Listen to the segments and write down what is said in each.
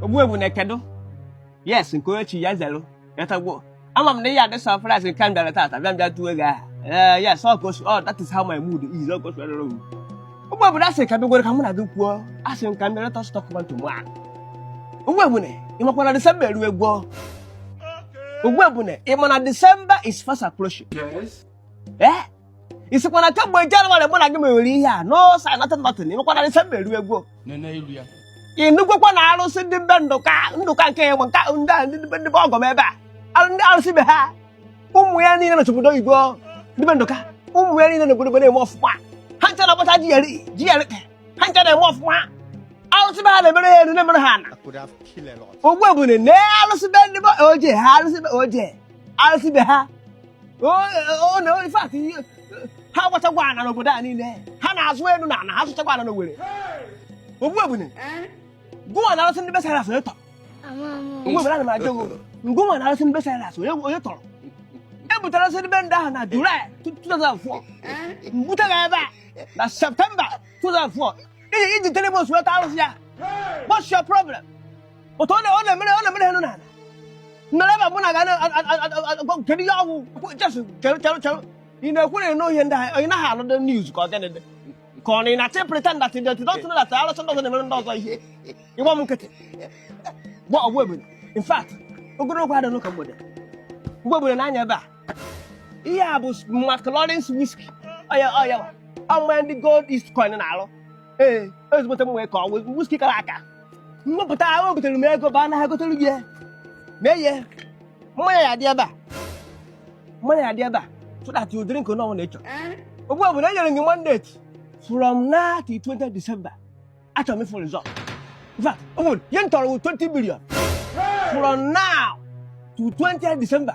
ogbu ebune kedu yes nke onye chi ya zelu yatagbo ama m na ị ya-adị surprise nke m bịara tata bịa m bịa tuo gị aha ee yes ọ ka o si ọ that is how my mood is ọ ka o si adịrị m ogbu ebune asị m ka m bịagodi ka mụ na gị kwuo asị m ka m bịa let us talk man to man ogbu ebune ị makwa na December erugwo ogbu ebune ị ma na December is fast approaching Yes. eh ị sịkwa na kemgbe Jenụwarị mụ na gị mewere ihe a no sign nothing nothing ị makwa na December erugwo nene ilu ya ị nụgokwa na arụsị ndị be ndụka ndụka nke ya ma nke ndị a ndị be- ndị be ọgọ m ebe a Arụ- ndị arụsị be ha ụmụ ya niile nọcha obodo oyibo ndị be ndụka ụmụ ya niile n'obodo na-eme ọfụma ha ncha na-agbacha GLE GLE ha ncha na-eme ọfụma arụsị be ha na-emere ha elu na-emere ha ana I could have killed a lot. ogbu ebune na arụsị be ndị be oje ha arụsị be oje arụsị be ha o na in fact ha gbachagwo ana n'obodo a niile ha na-azụ elu na ana ha zụchagwo ana n'Owerri ogbu ebune gụwa na arụsị ndị be Cyrus onye tọrọ ogbu ebune ana m ajụ ngụwa na arụsị ndị be Cyrus onye tọrọ e butere arụsị ndị be ndị ahụ na Julaị 2004 m bute gị ebe a na Septemba 2004 i ji three months wee tọọ arụsị ya what's your problem otu ọ na-emere ọ na-emere ha enu na ana mere ebe bụna ga-agwa kedu ihe ọ wụ just chere chere chere ị na-ekwu na ihe ndị ahụ ị naghị anụ the news ka ọ gịnị dị ka ọ na ị na-achọ ịpretend that you don't know that arụsị ndị ọzọ na-emere ndị ọzọ ihe ị gba m nkịtị gba ogbu ebune in fact ogologo adịghị n'ụka mgbede ogbu ebune nee anya ebe a ihe a bụ McLaurin's whisky ọ ya ọ ya wa ọmụma ndị gold east coin na-aṅụ ee ezigbote m wee ka ọ wụ whisky kara aka m wepụta ahụ ebitere m ego baa n'ahịa gotere gị ya mee ihe mmanya ya dị ebe a mmanya ya dị ebe a so that you drink onye ọbụla ị chọrọ ogbu ebune enyere m gị mandate from now to 20 December achọrọ m ịfụ result in fact ụmụ ihe m chọrọ wụ 20 billion from now to 20 December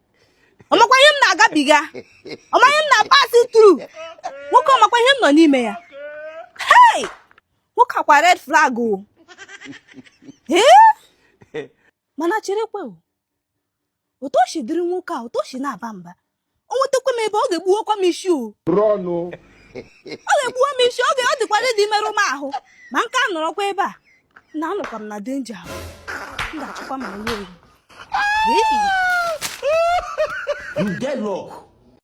ọ makwa ihe m na-agabiga ọ ma ihe m na-apass through nwoke ọ makwa ihe m nọ n'ime ya hei nwoke a kwa red flag o ee mana cherekwe o otu o shi dịrị nwoke a otu o shi na-aba mba o nwetakwa m ebe ọ ga-egbuwakwa m ishi o run o ọ ga-egbuwa m ishi oge ọ dịkwa ready imerụ m ahụ ma m ka nọrọkwa ebe a na anọkwa m na danger m ga-achọkwa my way Hey! You get luck.